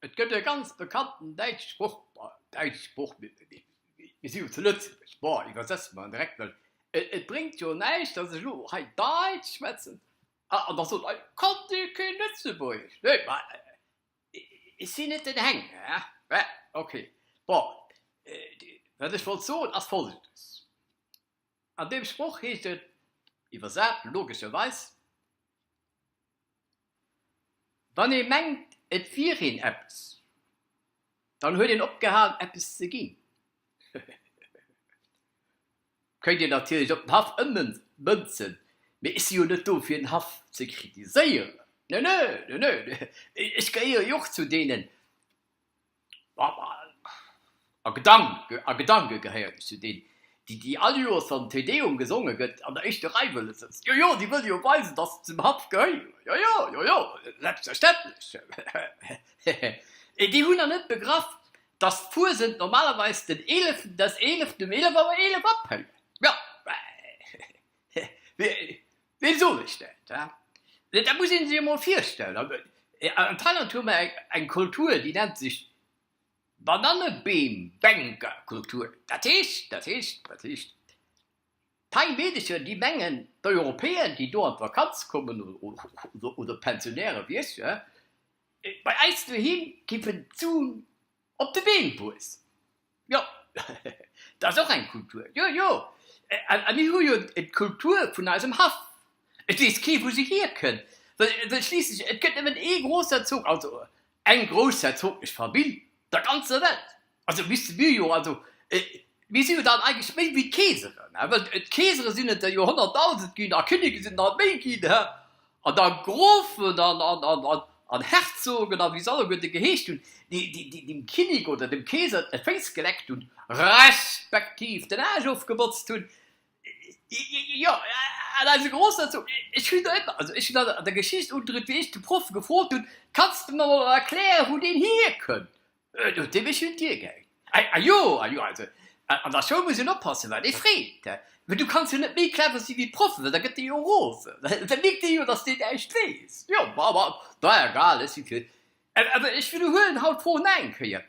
Et gëtt e ganz bekannten däitsche Sproch, däitsche Sproch, mir si jo zu Lëtzebuerg, bon iwwersetze mer en direkt, well et bréngt jo näischt, datt ech elo hei Däitsch schwätzen, Ah, an da sot ei, Kann dee keen Lëtzebuergesch? Nee, ma ech sinn net den Heng, hä? Mä ok. Bon, wat ech wollt soen, ass Folgendes, An deem Sproch heescht et, iwwersat, logescherweis, Wann ee mengt, et wier een eppes. Dann huet een opgehalen eppes ze ginn. Kënnt een natierlech op den Haff ëmmënzen, mee ech si jo net do fir den Haff ze kritiséieren. Nö, nö, nö, nö, ech gehéiere jo och zu deenen, a Gedanke gehéieren ech zu deenen, déi déi all Joers wann Te Deum gesonge gëtt an der éischter Rei wëlle sëtzen, jo jo, déi wëlle jo weisen, datt se zum Haff gehéieren, jo jo, jo jo, selbstverständlech, hehe, et déi hunn nach net begraff, datt d'Fuesent normalerweis den Eeleften des Eeleften um eelef Auer eelef aféiert, jo, hehe, weem soen ech dat, he, mee dat muss ee sech emol virstellen, an an Thailand hu mer eng Kultur, déi nennt sech Banannebeem, Bänker, Kultur, dat heescht, dat heescht, dat heescht, d'Pei Meedecher, déi mengen, d'Europäer, déi do an d'Vakanz kommen, oder d'Pensionäre wéi ech, bei eis doheem géifen d'Sun op de Beem wuessen. Jo, dat ass och eng Kultur, jo, jo. A mir hu jo d'Kultur vun eisem Haff. Et weess kee, wou se hierkënnt, well schliisslech et gëtt nëmmen ee Grousserzog, also Eng groussherzoglech Famill der ganzer Welt, also misste mir jo, also mir si jo dann eigentlech méi wéi d'Keeseren, he, well d'Keesere sinn et der jo honnertdausend ginn a Kinneke sinn et nach méi ginn, he, an da Grofen an Herzogen a wéi se alleguerte geheescht hunn, déi dem Kinnek oder dem Keeser d'Féiss geleckt hunn, respektiv den Aarsch ofgebotzt hunn. Jo, an eise Grosser sot, ech hunn der ëmmer, also ech hunn der an der Geschicht undriwt, wéi ech de Proff gefrot hunn, Kanns de mer mol erklären, wou deen hierkënnt? Et huet dee mech un d'Dier gehänkt. A jo, a jo, also an der Schoul muss een oppassen, wat ee freet, mä du kanns jo net méi clever si wéi d'Proffen, well da gëtt dee jo rosen, da mierkt dee jo, datt deen näischt weess. Jo, ma, ma, na egal, ech si fir. Awer ech widderhuelen haut d'Fro nach eng Kéier,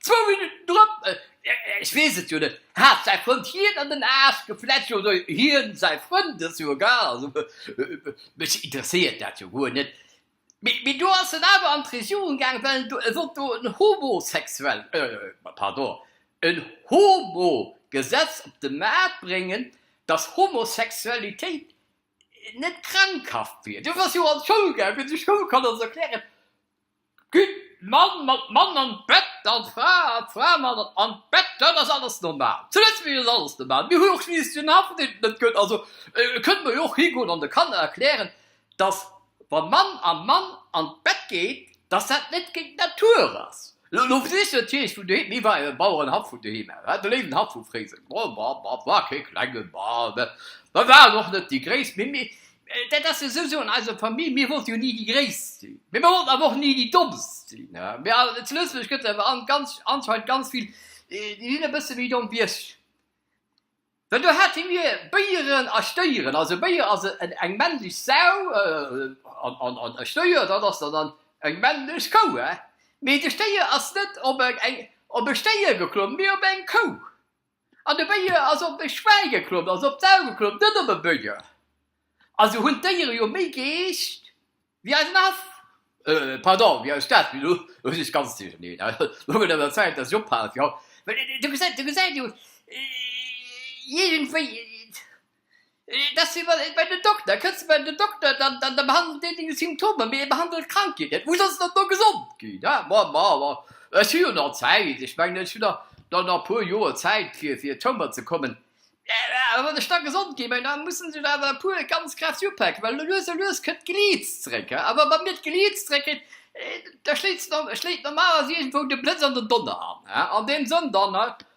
Zwou Minutten drop, ech weess et jo net, hat säi Frënd hien an den Aarsch geflecht oder hien säi Frënd? Ass jo egal, also mech interesséiert dat jo guer net. Mee do ass en awer an d'Regierung gaangen, well e wollt do en homosexuell, pardon, en Homo-Gesetz op de Maart bréngen, dass Homosexualitéit net krankhaft wier. Dofir ass jo an d'Schoul gaangen, fir de Schoulkanner ze erklären, Gudd Mann mat Mann an d'Bett an d'Fra mat Fra an d'Bett, dat ass alles normal. Zu Lëtzebuerg ass alles normal. Mir hu och just deen Haff deen et net gëtt. Also kënnen mer jo och higoen an de Kanner erklären, dass wa Mann a Mann an d'Bett geet, dass dat net géint d'Natur ass. Lo versicht ech natierlech vun doheem, hie war e Bauerenhaff vun doheem aus, hat e léiwen Haff vu Fréiseng, war kee klengen, war net, mer waren och net déi gréisst, mee Dat ass jo souwsou an eiser Famill, mir wollte jo ni déi Gréisst sinn, mee mir wollten awer och ni déi Dommst sinn. Zu Lëtzebuerg gëtt et awer anscheinend ganz vill, déi sinn e bësse méi domm wéi ech. Well do hate mir Béieren a Stéieren, also Béier ass eng männlech Sau an e Stéier, dat ass dann eng männlech Kou, mee de Stéier ass net op e Stéier geklommen, mee op eng Kou. An e Béier ass op e Schwäi geklomm, ass op d'Sau geklomm, net op e Béier. Also hunn d'Déiere jo méi Geescht wéi eisen Aff. Pardon, wéi eis Stad, mee elo huet sech d'ganzt duercherneen. Elo gëtt et an der Zäit, dass ech ophalen, fir haut. Well, Dir gesäit, Dir gesäit jo, iergendwéi. Dass si mol bei den Dokter, kënnst de bei den Dokter, dann dann behandelt deen deng Symptomer, mee e behandelt d'Krankheet net. Muss also dann do gesond ginn, hä? Ma ma ma, ech hu jo nach Zäit, ech mengen, ech hu nach nach nach e puer Joer Zäit fir fir d'Schoumer ze kommen. A wann ech da gesond ginn, ma da mussen sech awer e puer ganz kräfteg upaken, well lues a lues kënnt d'Geliits zréck, hä? A wa bei mir d'Geliits zréck kënnt, da schléit normalerweis iergendwou de Blëtz an den Donner an, hä? An deem Sënn dann, hä?